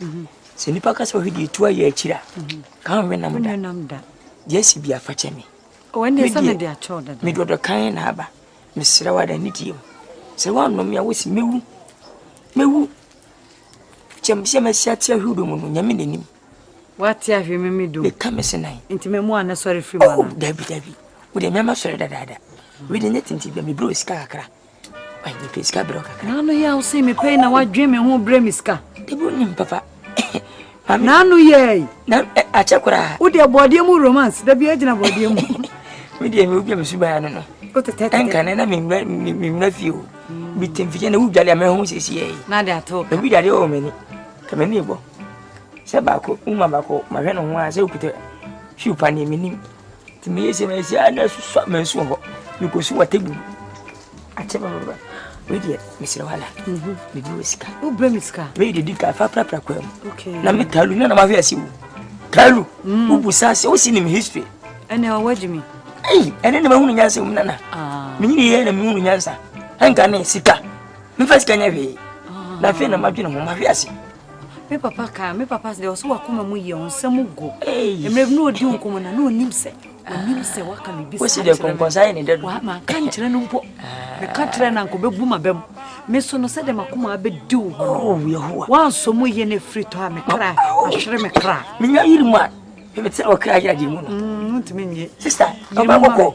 Mhm. Sɛ nipa ka sɛ ɔhwɛ deɛ ɛtu ayɛ akyiri a, ka ho hwɛ nam da. Deɛ asi bi afakyɛ me. Medɔdɔ kan na aba. Mesrɛ wada ne die mu. Sɛ woanom a wosi mɛwu. Mɛwu. Kyɛm sɛ masi ate ahwe wodɔ mu no, nyame n'anim. Woate ahwe me me dom. Meka me se nan. Nti mɛmu a na sɔre firi mu oh, ana? Dabi dabi. Wode mɛma sɔre dadaada. Wede nyɛ tinti bia mebrɛ sika kakra. N'ano yɛ awo sen me pɛn na wadwen me ho brɛ me sika. Debo nim papa. N'ano yɛ yi. Na akyɛ koraa. Wo deɛ bɔɔdeɛ mu romance da biara gyina bɔɔdeɛ mu. Me deɛ me wubia me suban ano no. O tete tete. Ɛnka ne na me nwura me nwura fie o. Bi mm. tem fie na wubia deɛ mɛho sisi yɛ yi. Na de ato. Na bi dadeɛ wɔ m'ani. Ka m'ani bɔ. Sɛ baako, wuma baako, mahwɛ ne ho a sɛ okuta shoe pa ne m'anim. nti meyɛ sɛ meyɛ sɛ a na ɛso sɔ mɛnso wɔ hɔ mekɔsi wɔ table mu akyɛ bɛbɛbɛ wei deɛ mesrɛ wala mhm. mebi wɔ sika wobrɛ me sika meyɛ de di ka fa prapra kwa mu na me talu na na mahwɛ ase wo talu mm. wobu sa sɛ wosi nim history ɛnɛ ɔwɔ agye me ei ɛne na mahunu nyansa mu nana ah. menyini yɛ na mehunu nyansa ɛnka ne sika mefa sika nyɛ hwee ah. na afei na madwene ho mahwɛ ase Me papa kaa me papa sɛ ɔsɛ wakoma mu yɛ ɔnsɛ mu go mmerɛ bi na ɔdi nkɔmmɔ na na ɔnim sɛ ɔnim sɛ waka biribi sɛ manka nkyerɛ no mpo meka kyerɛ no anka ɔbɛbu ma bɛm me so no sɛdeɛ makoma abɛdi wo hɔ no woansɔ mu yɛ no afiri tɔ a me kra ahwere me kra menya yiri mu a mete ɔkra yɛ agye mu no ntumi nye sista ɔbɛkɔkɔ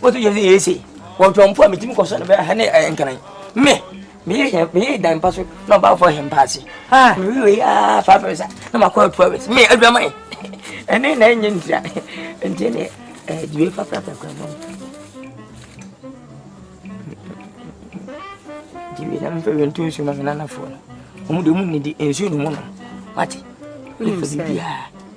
wotu yɛ sɛ yɛsɛ wɔtɔ mpo a metumi kɔsɔ no bɛyɛ ha ne ɛyɛ nkran me meyɛ meyɛ dan pa so na ɔbaafo ahɛ mpa ase mewe wei aa five hours a na makɔ two hours me adwaman ɛne na ɛnyɛ ntia nti ne ɛdiwe fapraprakra ma diwe na mfɛ wɛ nto nsuo ma me nanafoɔ no ɔmu de ɔmu nnidi nsuo no mu no wate ɛfɛ bibiaa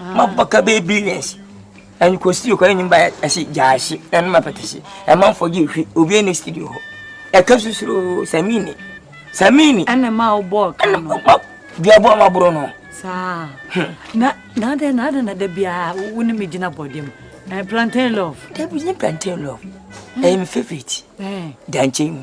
Ma bɔ ka bɛ bi nɛsi. Ɛn kɔ studio kɔ ɛnim ba ɛsi gyaasi ɛn ma pɛtɛsi. Ɛma nfɔ gye hwi obi ɛni studio hɔ. Ɛka susuro samini. Samini. Ɛna ma wo bɔ ka no. Ɛna ma bia bɔ ma bro no. Saa. Na na de na de na de bia wo ne me gyina bɔ dem. Ɛn plantain love. Debi ne plantain love. Ɛyɛ me favorite. Ɛn. Dankyɛn mu.